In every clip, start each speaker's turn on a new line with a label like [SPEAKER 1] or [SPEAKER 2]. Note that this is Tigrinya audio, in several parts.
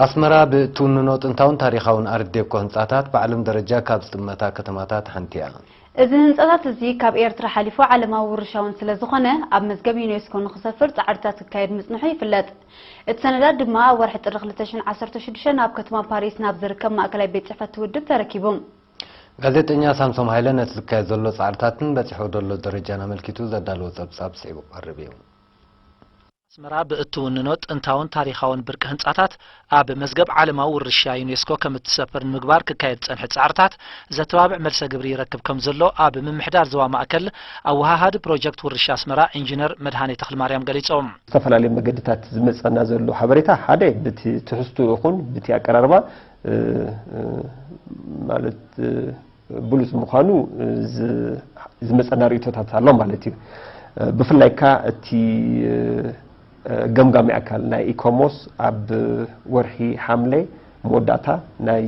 [SPEAKER 1] ኣስመራ ብእትውንኖ ጥንታውን ታሪኻውን ኣርት ዴኮ ህንጻታት ብዓለም ደረጃ ካብ ዝጥመታ ከተማታት ሓንቲ'ያ። እዚ ህንጻታት
[SPEAKER 2] እዚ ካብ ኤርትራ ሓሊፉ ዓለማዊ ውርሻ'ውን ስለዝኾነ ኣብ መዝገብ ዩኔስኮ ንኽሰፍር ጻዕርታት ክካየድ ምጽንሑ ይፍለጥ። እቲ ሰነዳት ድማ ኣብ ወርሒ ጥሪ ክልተ ሽሕን ዓሰርተ ሽዱሽተን ኣብ ከተማ ፓሪስ ናብ ዝርከብ ማእከላይ ቤት ጽሕፈት'ቲ ውድብ ተረኪቡ። ጋዜጠኛ
[SPEAKER 1] ሳምሶም ሃይለ ነቲ ዝካየድ ዘሎ ጻዕርታትን በጺሕዎ ደሎ ደረጃን ኣመልኪቱ ዘዳለዎ ጸብጻብ ስዒቡ ክቐርብ እዩ።
[SPEAKER 3] ኣስመራ ብእትውንኖ ጥንታውን ታሪኻውን ብርቂ ህንጻታት ኣብ መዝገብ ዓለማዊ ውርሻ ዩኔስኮ ከም እትሰፍር ንምግባር ክካየድ ዝጸንሐ ጻዕርታት ዘተባብዕ መልሰ ግብሪ ይረክብ ከም ዘሎ ኣብ ምምሕዳር ዞባ ማእከል ኣወሃሃዲ ፕሮጀክት ውርሻ ኣስመራ ኢንጂነር መድሃኔ ተኽልማርያም ገሊጾም። ዝተፈላለዩ መገድታት
[SPEAKER 4] ዝመጸና ዘሎ ሓበሬታ ሓደ ብቲ ትሕዝትኡ ይኹን ብቲ ኣቀራርባ ማለት ብሉጽ ምዃኑ ዝመጸና ርእይቶታት ኣሎ ማለት እዩ። ብፍላይ ከኣ እቲ ገምጋሚ ኣካል ናይ ኢኮሞስ ኣብ ወርሒ ሓምለ መወዳእታ ናይ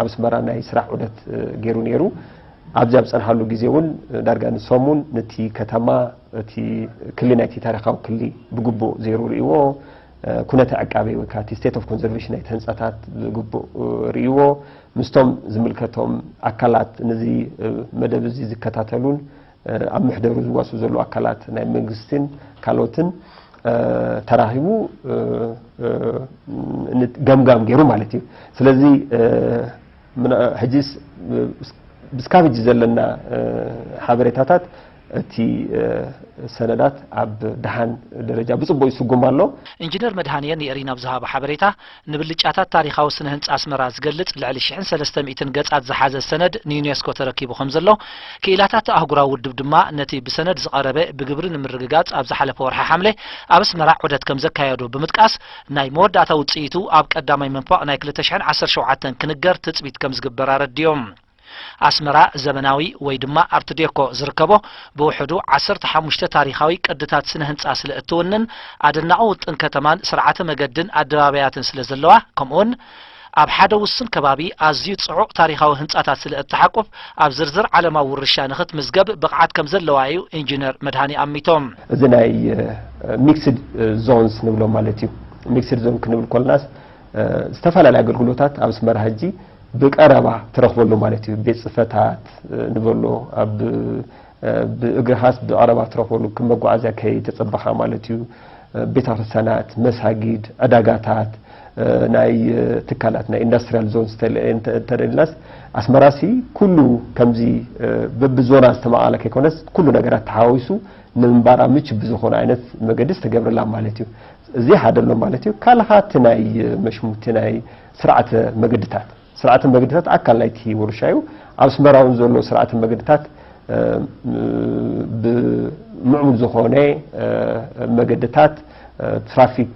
[SPEAKER 4] ኣብ ኣስመራ ናይ ስራሕ ዑደት ገይሩ ነይሩ። ኣብዚ ኣብ ዝጸንሓሉ ግዜ እውን ዳርጋ ንሰሙን ነቲ ከተማ እቲ ክሊ ናይቲ ታሪኻዊ ክሊ ብግቡእ ዘይሩ ርእይዎ ኩነተ ዕቃቤ ወይ ከኣ እቲ ስቴት ኦፍ ኮንዘርቬሽን ናይቲ ህንጻታት ብግቡእ ርእይዎ ምስቶም ዝምልከቶም ኣካላት ነዚ መደብ እዚ ዝከታተሉን ኣብ ምሕደሩ ዝዋስኡ ዘለዉ ኣካላት ናይ መንግስትን ካልኦትን ተራኺቡ ገምጋም ገይሩ ማለት እዩ ስለዚ ሕጂስ ብስካብ ሕጂ ዘለና ሓበሬታታት እቲ ሰነዳት ኣብ ደሓን ደረጃ ብጽቡቕ ይስጉም ኣሎ። ኢንጂነር መድሃንየ
[SPEAKER 3] ንኤሪና ኣብ ዝሃቦ ሓበሬታ፣ ንብልጫታት ታሪኻዊ ስነ ህንጻ ኣስመራ ዝገልጽ ልዕሊ ሽሕን ሰለስተ ሚእትን ገጻት ዝሓዘ ሰነድ ንዩኔስኮ ተረኪቡ ከምዘሎ፣ ክኢላታት ኣህጉራዊ ውድብ ድማ ነቲ ብሰነድ ዝቐረበ ብግብሪ ንምርግጋጽ ኣብ ዝሓለፈ ወርሒ ሓምለ ኣብ ኣስመራ ዑደት ከምዘካየዱ ብምጥቃስ፣ ናይ መወዳእታ ውጽኢቱ ኣብ ቀዳማይ መንፈቕ ናይ ክልተ ሽሕን ዓሰርተ ሸውዓተን ክንገር ትጽቢት ከምዝግበር ኣረዲኦም። ኣስመራ ዘመናዊ ወይ ድማ ኣርት ዴኮ ዝርከቦ ብውሕዱ ዓሰርተ ሓሙሽተ ታሪኻዊ ቅድታት ስነ ህንጻ ስለ እትውንን ኣደናቒ ውጥን ከተማን ስርዓተ መገድን ኣደባባያትን ስለ ዘለዋ ከምኡውን ኣብ ሓደ ውሱን ከባቢ ኣዝዩ ጽዑቕ ታሪኻዊ ህንጻታት ስለ እትሓቁፍ ኣብ ዝርዝር ዓለማዊ ውርሻ ንኽትምዝገብ ብቕዓት ከም ዘለዋ ኢዩ ኢንጂነር መድሃኔ ኣሚቶም። እዚ ናይ
[SPEAKER 4] ሚክስድ ዞንስ ንብሎ ማለት እዩ። ሚክስድ ዞን ክንብል ኮለናስ ዝተፈላለዩ ኣገልግሎታት ኣብ ኣስመራ ሕጂ ብቀረባ ትረኽበሉ ማለት እዩ። ቤት ጽፈታት ንበሎ ኣብ ብእግርኻስ ብቀረባ ትረኽበሉ ከም መጓዓዝያ ከይተጸበኻ ማለት እዩ። ቤተክርስትያናት፣ መሳጊድ፣ ዕዳጋታት፣ ናይ ትካላት ናይ ኢንዳስትሪያል ዞን እንተደልናስ ኣስመራሲ ኩሉ ከምዚ በብዞና ዝተመቓለ ከይኮነስ ኩሉ ነገራት ተሓዋዊሱ ንምንባራ ምቹ ብዝኾነ ዓይነት መገዲ ዝተገብረላ ማለት እዩ። እዚ ሓደ ኣሎ ማለት እዩ። ካልእ ከኣ እቲ ናይ መሽሙ እቲ ናይ ስርዓተ መገድታት ስርዓተ መገድታት ኣካል ናይቲ ወርሻ እዩ። ኣብ ኣስመራ እውን ዘሎ ስርዓተ መገድታት ብምዕቡል ዝኾነ መገድታት ትራፊክ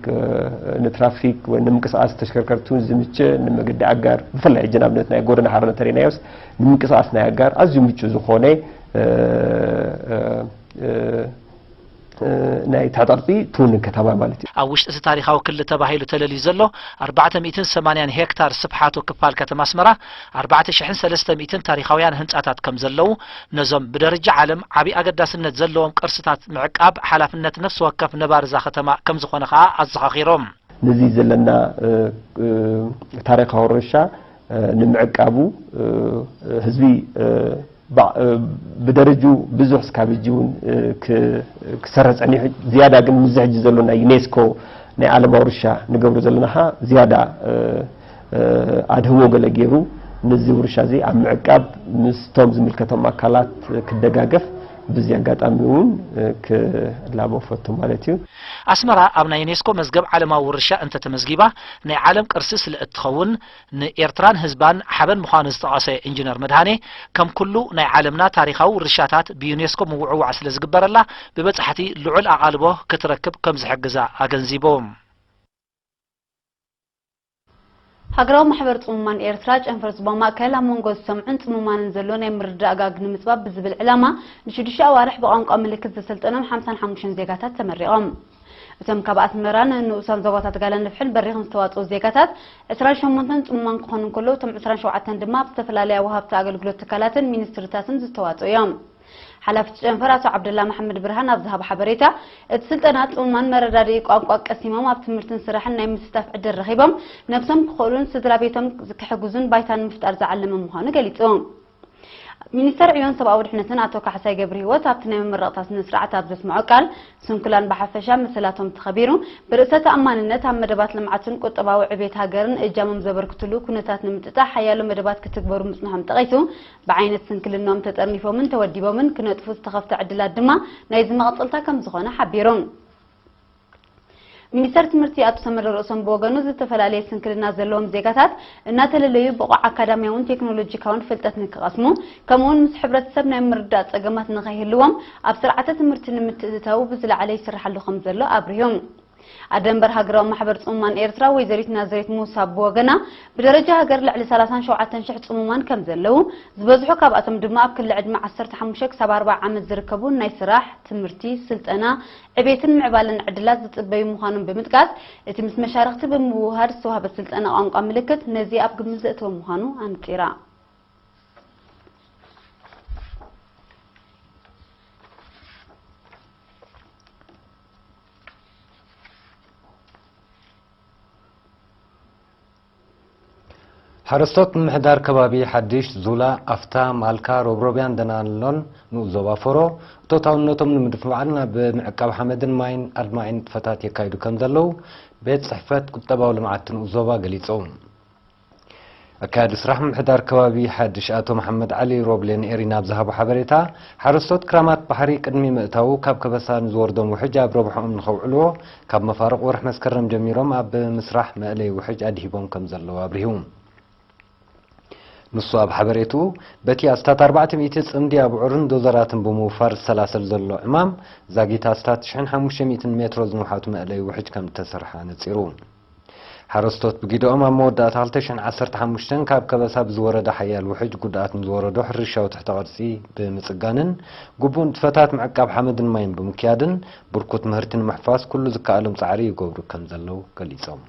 [SPEAKER 4] ንትራፊክ ወይ ንምንቅስቓስ ተሽከርከርቲ እውን ዝምቸ ንመገዲ ኣጋር ብፍላይ ሕጂ ንኣብነት ናይ ጎደና ሃረር እንተሪእናዮስ ንምንቅስቓስ ናይ ኣጋር ኣዝዩ ምቹእ ዝኾነ ናይ ታጠቕጢ ትውንን ከተማ ማለት እዩ። ኣብ ውሽጢ እቲ ታሪኻዊ
[SPEAKER 3] ክሊ ተባሂሉ ተለልዩ ዘሎ ኣርባዕተ ሚእትን ሰማንያን ሄክታር ስፍሓቱ ክፋል ከተማ ኣስመራ ኣርባዕተ ሽሕን ሰለስተ ሚእትን ታሪኻውያን ህንጻታት ከም ዘለዉ ነዞም ብደርጃ ዓለም ዓቢ ኣገዳስነት ዘለዎም ቅርስታት ምዕቃብ ሓላፍነት ነፍሲ ወከፍ ነባሪ እዛ ከተማ ከም ዝኾነ ከኣ ኣዘኻኺሮም። ነዚ ዘለና
[SPEAKER 4] ታሪኻዊ ርሻ ንምዕቃቡ ህዝቢ ብደረጅኡ ብዙሕ እስካብ ሕጂ እውን ክሰረ ጸኒሑ ዝያዳ ግን ምዚ ሕጂ ዘሎ ናይ ዩኔስኮ ናይ ዓለም ኣውርሻ ንገብሮ ዘለና ከኣ ዝያዳ ኣድህቦ ገለ ገይሩ ንዚ ውርሻ እዚ ኣብ ምዕቃብ ምስቶም ዝምልከቶም ኣካላት ክደጋገፍ ብዚ ኣጋጣሚ እውን ክላቦ እፈቱ ማለት እዩ። ኣስመራ ኣብ
[SPEAKER 3] ናይ ዩኔስኮ መዝገብ ዓለማዊ ውርሻ እንተተመዝጊባ ናይ ዓለም ቅርሲ ስለእትኸውን ንኤርትራን ህዝባን ሓበን ምዃኑ ዝጠቐሰ ኢንጅነር መድሃኔ፣ ከም ኩሉ ናይ ዓለምና ታሪኻዊ ውርሻታት ብዩኔስኮ ምውዕዋዕ ስለ ዝግበረላ ብበጻሕቲ ልዑል ኣቓልቦ ክትረክብ ከም ዝሕግዛ ኣገንዚቡ።
[SPEAKER 2] ሃገራዊ ማሕበር ጽሙማን ኤርትራ፣ ጨንፈር ዞባ ማእከል፣ ኣብ መንጎ ዝሰምዑን ጽሙማንን ዘሎ ናይ ምርድዳእ ጋግ ንምጽባብ ብዝብል ዕላማ፣ ንሽዱሽተ ኣዋርሕ ብቋንቋ ምልክት ዘሰልጠኖም ሓምሳን ሓሙሽተን ዜጋታት ተመሪቖም። እቶም ካብ ኣስመራን ንኡሳን ዞባታት ጋላን ንፍሕን በሪኽን ዝተዋጽኡ ዜጋታት ዕስራን ሸሞንተን ጽሙማን ክኾኑ እንከለዉ እቶም ዕስራን ሸውዓተን ድማ ብ ዝተፈላለያ ወሃብቲ ኣገልግሎት ትካላትን ሚኒስትሪታትን ዝተዋጽኡ እዮም። ሓላፊ እቲ ጨንፈር ኣቶ ዓብደላ መሓመድ ብርሃን ኣብ ዝሃቦ ሓበሬታ፣ እቲ ስልጠና ጽሙማን መረዳድኢ ቋንቋ ቀሲሞም ኣብ ትምህርትን ስራሕን ናይ ምስታፍ ዕድል ረኺቦም ነብሶም ክኽእሉን ስድራቤቶም ክሕግዙን ባይታ ንምፍጣር ዝዓለመ ምዃኑ ገሊጹ። ሚኒስተር ዕዮን ሰብኣዊ ድሕነትን ኣቶ ካሕሳይ ገብርሂወት ኣብቲ ናይ መመረቕታ ስነ ስርዓት ኣብ ዘስምዖ ቃል፣ ስንኩላን ብሓፈሻ መሰላቶም ተኸቢሩ ብርእሰ ተኣማንነት ኣብ መደባት ልምዓትን ቁጠባዊ ዕብየት ሃገርን እጃሞም ዘበርክትሉ ኩነታት ንምጥጣሕ ሓያሎ መደባት ክትግበሩ ምጽንሖም ጠቒሱ ብዓይነት ስንክልንኦም ተጠርኒፎምን ተወዲቦምን ክነጥፉ ዝተኸፍተ ዕድላት ድማ ናይዚ መቐጸልታ ከምዝኾነ ሓቢሩ። ሚኒስተር ትምህርቲ ኣቶ ሰመረ ርእሶም ብወገኑ ዝተፈላለየ ስንክልና ዘለዎም ዜጋታት እናተለለዩ ብቑዕ ኣካዳሚያውን ቴክኖሎጂካውን ፍልጠት ንክቐስሙ ከምኡውን ምስ ሕብረተሰብ ናይ ምርዳእ ጸገማት ንኸይህልዎም ኣብ ስርዓተ ትምህርቲ ንምትእትታዉ ብዝለዓለ ይስርሓሉ ከምዘሎ ኣብሪሁ። ኣደንበር ሃገራዊ ማሕበር ጽሙማን ኤርትራ ወይዘሪት ናዝሬት ሙሳ ብወገና ብደረጃ ሃገር ልዕሊ ሰላሳን ሸውዓተን ሽሕ ጽሙማን ከምዘለዉ ዝበዝሑ ካብኣቶም ድማ ኣብ ክሊ ዕድመ ዓሰርተ ሓሙሽተ ክሳብ ኣርብዓ ዓመት ዝርከቡ ናይ ስራሕ፣ ትምህርቲ፣ ስልጠና፣ ዕቤትን ምዕባለን ዕድላት ዝጽበዩ ምዃኖም ብምጥቃስ፣ እቲ ምስ መሻርኽቲ ብምውህሃድ ዝተዋህበ ስልጠና ቋንቋ ምልክት ነዚ ኣብ ግምት ዘእተወ ምዃኑ ኣንጺራ።
[SPEAKER 1] ሓረስቶት ምምሕዳር ከባቢ ሓዲሽ ዙላ፣ ኣፍታ፣ ማልካ፣ ሮብሮብያን ደናሎን ንኡስ ዞባ ፎሮ እቶታውነቶም ንምድፍባዕን ናብ ምዕቃብ ሓመድን ማይን ኣድማዒ ንጥፈታት የካይዱ ከምዘለዉ ቤት ፅሕፈት ቁጠባዊ ልምዓት ንኡስ ዞባ ገሊፁ። ኣካያዲ ስራሕ ምምሕዳር ከባቢ ሓዲሽ ኣቶ መሓመድ ዓሊ ሮብሌ ንኤሪና ኣብ ዝሃቦ ሓበሬታ ሓረስቶት ክራማት ባሕሪ ቅድሚ ምእታዉ ካብ ከበሳ ንዝወርዶም ውሕጅ ኣብ ረብሕኦም ንከውዕልዎ ካብ መፋርቕ ወርሒ መስከረም ጀሚሮም ኣብ ምስራሕ መእለዪ ውሕጅ ኣድሂቦም ከምዘለዉ ኣብሪሁ። ንሱ ኣብ ሓበሬትኡ፣ በቲ ኣስታት ኣርባዕተ ሚእቲ ጽምዲ ኣብዑርን ዶዘራትን ብምውፋር ዝሰላሰል ዘሎ ዕማም፣ ዛጊት ኣስታት ሽሕን ሓሙሽተ ሚእትን ሜትሮ ዝንውሓቱ መእለዪ ውሕጅ ከምዝተሰርሐ ኣነጺሩ። ሓረስቶት ብጊደኦም ኣብ መወዳእታ ክልተ ሽሕን ዓሰርተ ሓሙሽተን ካብ ከበሳ ብዝወረደ ሓያል ውሕጅ ጉድኣት ንዝወረዶ ሕርሻዊ ትሕተ ቅርጺ ብምጽጋንን ግቡእ ንጥፈታት ምዕቃብ ሓመድን ማይን ብምክያድን ብርኩት ምህርቲ ንምሕፋስ ኩሉ ዝከኣሎም ጻዕሪ ይገብሩ ከምዘለው ገሊጾም።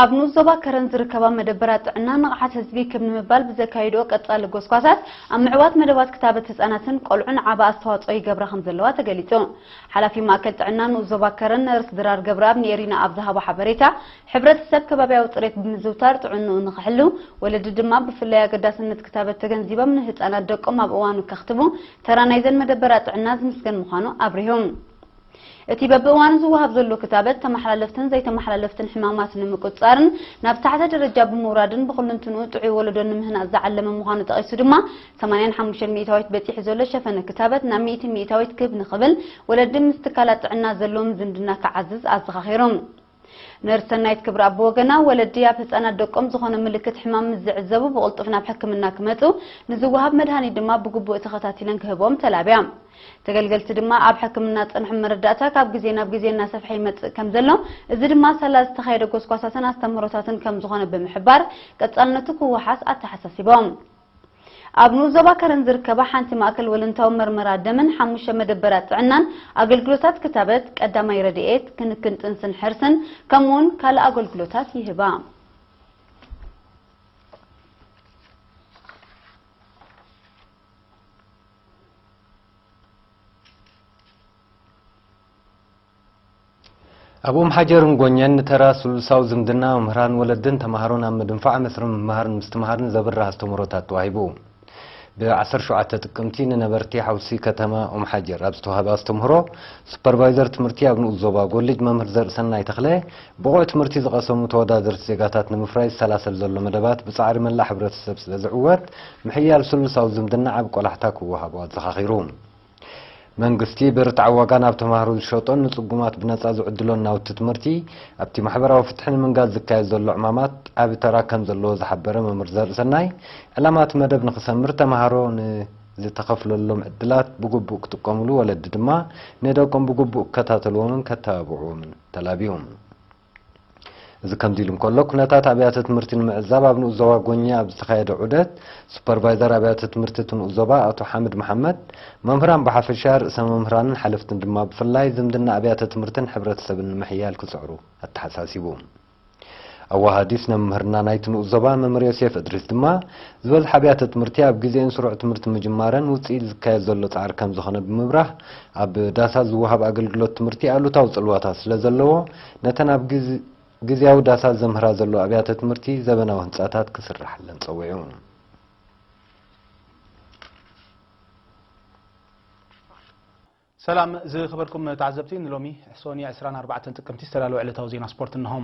[SPEAKER 1] ኣብ ንኡስ ዞባ ከረን ዝርከባ መደበራት ጥዕና ንቕሓት ህዝቢ ክብ ንምባል ብዘካይድኦ ቀጻሊ ጎስጓሳት ኣብ ምዕዋት መደባት ክታበት ህጻናትን ቆልዑን ዓቢ ኣስተዋጽኦ ይገብራ ከምዘለዋ ተገሊጹ። ሓላፊ ማእከል ጥዕና ንኡስ ዞባ ከረን ነርስ ድራር ገብረኣብ ንኤሪና ኣብ ዝሃቦ ሓበሬታ፣ ሕብረተሰብ ከባብያዊ ጽሬት ብምዝውታር ጥዕንኡ ንኽሕሉ፣ ወለዲ ድማ ብፍላይ ኣገዳስነት ክታበት ተገንዚቦም ንህጻናት ደቆም ኣብ እዋኑ ከኽትቡ ተራ ናይዘን መደበራት ጥዕና ዝምስገን ምዃኑ ኣብሪሁ። እቲ በብእዋኑ ዝወሃብ ዘሎ ክታበት፣ ተመሓላለፍትን ዘይተመሓላለፍትን ሕማማት ንምቁጽጻርን ናብ ዝተሓተ ደረጃ ብምውራድን ብኹሉንትንኡ ጥዑይ ወለዶ ንምህናጽ ዝዓለመ ምዃኑ ጠቒሱ ድማ፣ ሰማንያን ሓሙሽተን ሚእታዊት በጺሑ ዘሎ ሸፈነ ክታበት ናብ ሚእቲ ሚእታዊት ክብ ንኽብል፣ ወለዲ ምስ ትካላት ጥዕና ዘለዎም ዝምድና ክዓዝዝ ኣዘኻኺሩ። ነርስ ሰናይት ክብረኣብ ብወገና፣ ወለዲ ኣብ ህጻናት ደቆም ዝኾነ ምልክት ሕማም ምስ ዝዕዘቡ ብቕልጡፍ ናብ ሕክምና ክመጹ፣ ንዝወሃብ መድሃኒት ድማ ብግቡእ ተኸታቲለን ክህብኦም ተላብያ። ተገልገልቲ ድማ ኣብ ሕክምና ጸንሖም መረዳእታ ካብ ግዜ ናብ ግዜ እናሰፍሐ ይመጽእ ከም ዘሎ፣ እዚ ድማ ሳላ ዝተኻየደ ጎስጓሳትን ኣስተምህሮታትን ከም ዝኾነ ብምሕባር፣ ቀጻልነቱ ክወሓስ ኣተሓሳሲቦም። ኣብ ንኡስ ዞባ ከረን ዝርከባ ሓንቲ ማእከል ወለንታዊ መርመራ ደምን ሓሙሽተ መደበራት ጥዕናን ኣገልግሎታት ክታበት፣ ቀዳማይ ረድኤት፣ ክንክን ጥንስን ሕርስን ከምኡ'ውን ካልእ ኣገልግሎታት ይህባ። ኣብ ኡምሓጀርን ጎኘን ንተራ ስሉሳዊ ዝምድና መምህራን ወለድን ተማሃሮን ኣብ ምድንፋዕ መስርሕ ምምሃርን ምስትምሃርን ዘብርህ ኣስተምህሮታት ተዋሂቡ። ብ ዓሰርተ ሸውዓተ ጥቅምቲ ንነበርቲ ሓውሲ ከተማ ኡምሓጀር ኣብ ዝተውሃበ ኣስተምህሮ ሱፐርቫይዘር ትምህርቲ ኣብ ንኡስ ዞባ ጎልጅ መምህር ዘርእሰናይ ተኽለ ብቑዕ ትምህርቲ ዝቐሰሙ ተወዳደርቲ ዜጋታት ንምፍራይ ዝሰላሰል ዘሎ መደባት ብፃዕሪ መላእ ሕብረተሰብ ስለዝዕወት ምሕያል ስሉሳዊ ዝምድና ዓቢ ቆላሕታ ክወሃቦ ኣዘኻኺሩ። መንግስቲ ብርትዓዊ ዋጋ ናብ ተማሃሮ ዝሸጦን ንጽጉማት ብነጻ ዝዕድሎን ናውቲ ትምህርቲ፣ ኣብቲ ማሕበራዊ ፍትሒ ንምንጋስ ዝካየድ ዘሎ ዕማማት ዓቢ ተራ ከም ዘለዎ ዝሓበረ መምህር ዘርእሰናይ፣ ዕላማ እቲ መደብ ንኽሰምር ተማሃሮ ን ዝተኸፍለሎም ዕድላት ብግቡእ ክጥቀሙሉ ወለዲ ድማ ንደቆም ብግቡእ ክከታተልዎምን ከተባብዕዎምን ተላብዩ። እዚ ከምዚሉ እንከሎ፣ ኩነታት ኣብያተ ትምህርቲ ንምዕዛብ ኣብ ንኡስ ዞባ ጎኜ ኣብ ዝተኻየደ ዑደት፣ ሱፐርቫይዘር ኣብያተ ትምህርቲ እቲ ንኡስ ዞባ ኣቶ ሓምድ መሓመድ፣ መምህራን ብሓፈሻ፣ ርእሰ መምህራንን ሓለፍትን ድማ ብፍላይ ዝምድና ኣብያተ ትምህርትን ሕብረተሰብን ንምሕያል ክጽዕሩ ኣተሓሳሲቡ። ኣወሃሃዲ
[SPEAKER 5] ስነ ምምህርና ናይቲ ንኡስ ዞባ መምህር ዮሴፍ እድሪስ ድማ፣ ዝበዝሓ ኣብያተ ትምህርቲ ኣብ ግዜኡን ስሩዕ ትምህርቲ ምጅማረን ውጽኢት ዝካየድ ዘሎ ጻዕሪ ከምዝኾነ ብምብራህ፣ ኣብ ዳሳት ዝወሃብ ኣገልግሎት ትምህርቲ ኣሉታዊ ጽልዋታት ስለ ዘለዎ፣ ነተን ኣብ ግዝያዊ ዳሳት ዘምህራ ዘለዋ ኣብያተ ትምህርቲ ዘበናዊ ህንጻታት ክስራሓለን ጸዊዑ።
[SPEAKER 6] ሰላም ዝኸበርኩም ተዓዘብቲ፣ ንሎሚ ሶኒ ዕስራን ኣርባዕተን ጥቅምቲ ዝተዳለወ ዕለታዊ ዜና ስፖርት እነሆ።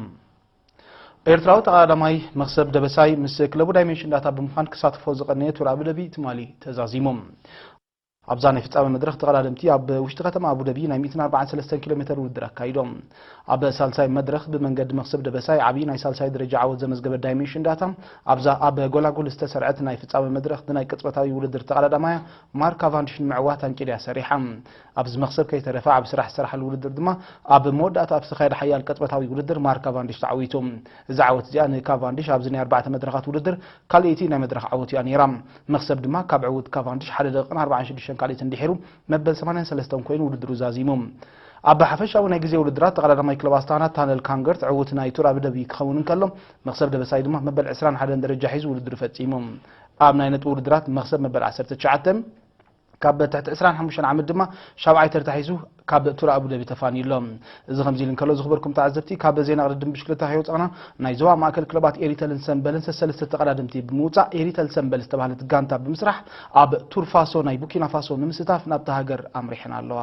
[SPEAKER 6] ኤርትራዊ ተቐዳዳማይ መኽሰብ ደበሳይ ምስ ክለቡ ዳይሜንሽን ዳታ ብምዃን ክሳተፎ ዝቐነየ ቱር ኣቡዳቢ ትማሊ ተዛዚሙ። ኣብዛ ናይ ፍጻመ መድረኽ ተቐዳደምቲ ኣብ ውሽጢ ከተማ ኣቡደቢ ናይ ሚእትን ኣርባዓን ሰለስተን ኪሎ ሜተር ውድድር ኣካይዶም። ኣብ ሳልሳይ መድረኽ ብመንገዲ መኽሰብ ደበሳይ ዓብዪ ናይ ሳልሳይ ደረጃ ዓወት ዘመዝገበት ዳይሜንሽን ዳታ ኣብዛ ኣብ ጎላጉል ዝተሰርዐት ናይ ፍጻመ መድረኽ ብናይ ቅጽበታዊ ውድድር ተቐዳዳማያ ማርክ ካቫንዲሽ ንምዕዋት ኣንቂድያ ሰሪሓ። ኣብዚ መኽሰብ ከይተረፈ ዓቢ ስራሕ ዝሰራሓሉ ውድድር ድማ ኣብ መወዳእታ ኣብ ዝተኻየደ ሓያል ቅጽበታዊ ውድድር ማርክ ካቫንዲሽ ተዓዊቱ። እዛ ዓወት እዚኣ ንካቫንዲሽ ኣብዚ ናይ ኣርባዕተ መድረኻት ውድድር ካልኣይቲ ናይ መድረኽ ዓወቱ እያ ነይራ። መኽሰብ ድማ ካብ ዕውት ካቫንዲሽ ሓደ ደቂቕን ኣርባዓን ሽዱሽተን ካልኢትን ድሒሩ መበል ሰማንያን ሰለስተን ኮይኑ ውድድሩ ዛዚሙ። ኣብ ሓፈሻዊ ናይ ግዜ ውድድራት ተቐዳዳማይ ክለብ ኣስታና ታነል ካንገርት ዕውት ናይ ቱር ኣቢደቢ ክኸውን እንከሎ መኽሰብ ደበሳይ ድማ መበል ዕስራን ሓደን ደረጃ ሒዙ ውድድሩ ፈጺሙ። ኣብ ናይ ነጥቢ ውድድራት መኽሰብ መበል ዓሰርተ ትሽዓተ፣ ካብ ትሕቲ ዕስራን ሓሙሽተን ዓመት ድማ ሻብዓይ ተርታ ሒዙ ካብ ቱር ኣቡደቢ ተፋንዩ ኣሎ። እዚ ከምዚ ኢሉ እንከሎ ዝኽበርኩም ተዓዘብቲ ካብ ዜና ቅድድም ብሽክለታ ከይወጻእና ናይ ዞባ ማእከል ክለባት ኤሪተልን ሰምበልን ሰሰለስተ ተቐዳደምቲ ብምውጻእ ኤሪተል ሰምበል ዝተባህለት ጋንታ ብምስራሕ ኣብ ቱር ፋሶ ናይ ቡኪና ፋሶ ንምስታፍ ናብታ ሃገር ኣምሪሐን ኣለዋ።